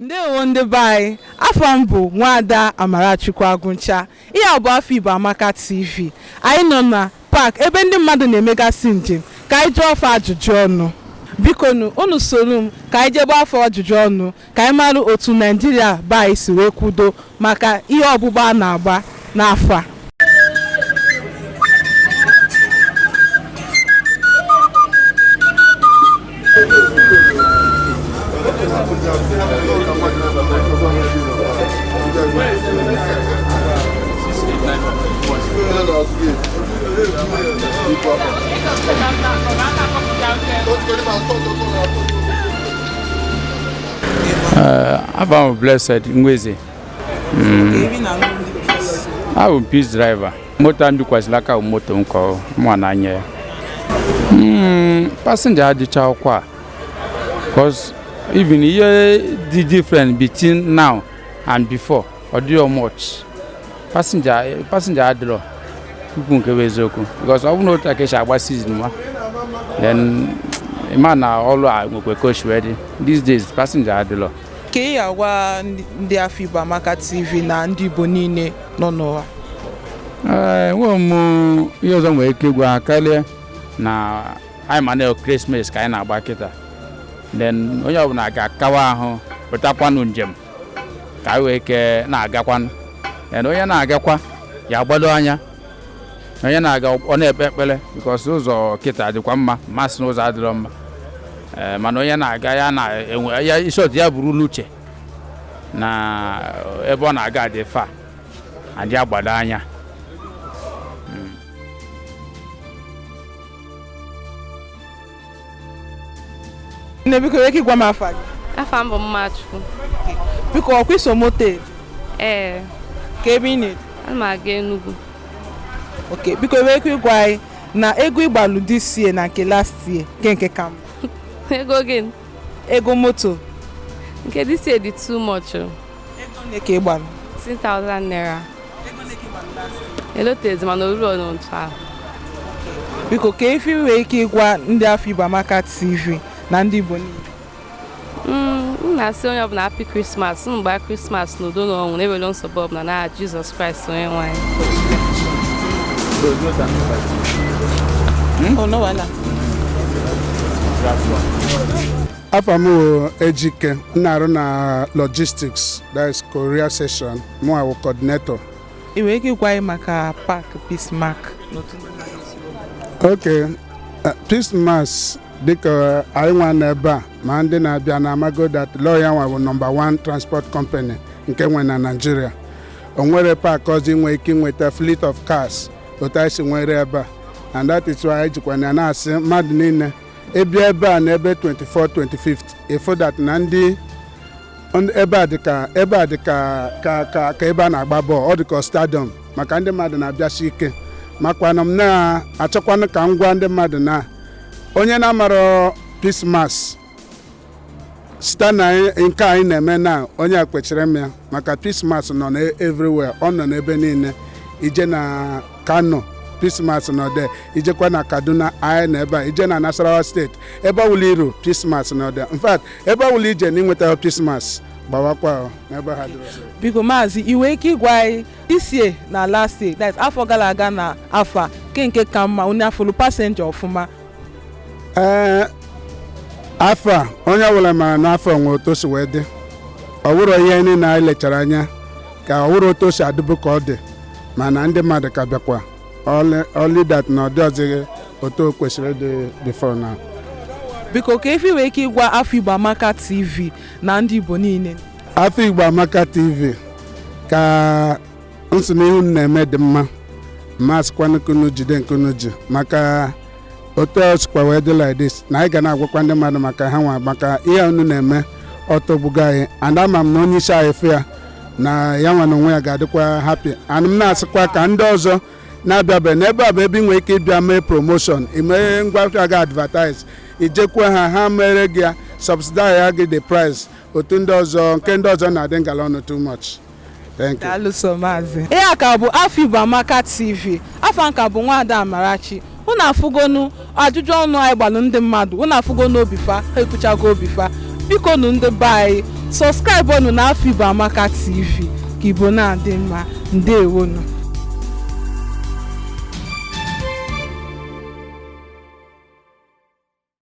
Ndewo ndị be anyị, afa m bụ Nwaada Amarachukwu Agụncha. Ihe a bụ Afọ Igbo Amaka TV. Anyị nọ na park ebe ndị mmadụ na-emegasị njem ka anyị jụọ fa ajụjụ ọnụ. Bikonu, unu soro m ka anyị jee gbaa fa ajụjụ ọnụ ka anyị mara otu Naijiria be anyị si wee kwudo maka ihe ọgbụgba a na-agba n'afọ a. Eh, Afa m bụ Blessed Nweze. Mm. Abụ m Peace driver. Moto a m bikwasịrị aka bụ moto nke mụwa na-anya. Mm, Passenger adịcharọkwa. Cause even ihe dị different between now and before. ọ dịrọ much passenger adịrọ ikwu nke bụ eziokwu because ọ bụ na otu a ka e si agba season then ị ma na ọrụ a nwekwa ka o si wee dị these days passenger adịrọ kee ihe ị ya-agwa ndị- ndị afọ igbo amaka tv na ndị igbo niile nọ n'ụwa Ee, enweghị m ihe ọzọ nwere ike ịgwa ha karịa na anyị ma na Christmas ka anyị na-agba kịta then onye ọbụla ga-akawa ahụ pụtakwanụ njem ka anyị nwee ike na-agakwanụ then onye na-agakwa ya gbado anya onye na-aga ọ na-ekpe ekpere because ụzọ kịta dịkwa mma masị na ụzọ adịrọ mma eh, mana onye na-aga ya na-enwe ya in short ya buru n'uche na ebe ọ na-aga dị far and ya gbado anya nne biko i nwee ike ịgwa m afa gị afa m bụ Mmachukwu biko ọ kwa i so moto ee kee ebe ị na-eje ana m aga Enugu okay biko i nwee ike ịgwa anyị na ego ị gbalụ this year na nke last year kee nke ka mma ego gịnị ego moto nke this year dị too much o. ego ole ka ị gbalụ 10,000 naira ego ole ka ị gbalụ last year? elotezi mana o rurọnụ otu ahụ biko kee ife i nwee ike ịgwa ndị afọ igbo amaka tv na ndị igbo niile Mm, m na-asị onye ọbụla happy Christmas unu gbaa Christmas n'udo na ọṅụ na-enwerọ nsogbu ọbụla n'aha Jesus Christ onye nwe anyị Oh, no wahala. afa m wụ ejike m na-arụ na logistics that is courier section mụnwa wụ coordinator ị nwere ike ịgwa anyị maka park peace mass n'otu ndị mmadụ si wee pụta? okay eh, peace mass dịka anyị nwa nọ ebe a ma ndị na-abịa na amago that lọọ ya nwa bụ nọmba 1 transport company nke e nwere na naijiria o nwerọ paakị ọzọ ị nwere ike inweta fleet of cars otu anyị si nwere ebe a and that is why anyị jikwa na na-asị mmadụ niile ị bịa ebe a n'ebe 24 25th ị fụ that na ndị ebe a dịka ebe a dịka ka ka ka ebe a na-agba bọọlụ ọ dịka stadiọm maka ndị mmadụ na-abịasi ike makwa na m na-achọkwanụ ka m gwa ndị mmadụ na onye na-amarọ peace mass site na nke anyị na-eme na onye a kwechiri ịma ya maka peace mass nọ na everywhere ọ nọ n'ebe niile i jee na kano peace mass nọ there i jekwa na kaduna anyị nọ ebe a i jee na nasarawa steeti ebe ọbụla i ru peace mass nọ there in fact ebe ọbụla i je na ị nwetahọ peace mass gbawakwa n'ebe ha dịrị biko maazị ị nwere ike ịgwa anyị this year na last year that afọ gara aga na afọ a nke nke ka mma onye afụlụ pasenja ọfụma ee afọ a onye ọbụla mara na afọ a nwe otu o si wee dị ọ wụrọ ihe niile anyị lechara anya ka ọ wụrụ otu o si adịbu ka ọ dị mana ndị mmadụ ka bịakwa only that na ọ dịzịghị otu o kwesịrị ịdị before now biko kee ife ị nwee ike ịgwa afọ igbo amaka tv na ndị igbo niile afọ igbo amaka tv ka m sị n'ihe unu na-eme dị mma m asịkwa ka unu jide nke unu ji maka otu o sikwa wee dị like this na anyị ga na-agwakwa ndị mmadụ maka ha nwa maka ihe unu na-eme ọ tọgbugo anyị and ama m na onye isi anyị fụ ya na ya nwa na onwe ya ga-adịkwa happy and m na-asịkwa ka ndị ọzọ na-abịabeghị n'ebe a bụ ebe ị nwere ike ịbịa mee promotion i mee ngwa ahịa gị advertise i jekwa ha ha mere gị ya subsidize ya gị the price otu ndị ọzọ nke ndị ọzọ na-adị ngala ọnụ too much Thank you. daalụ so maazị ihe a ka bụ afọ igbo amaka tv afa m ka bụ nwada amarachi unu afụgonu ajụjụ ọnụ anyị gbalụ ndị mmadụ unu afụgonu obi fa ha ekwuchago obi fa biko nu ndị be anyị subscribe nụ na afọ igbo amaka tv ka igbo na-adị mma ndewonu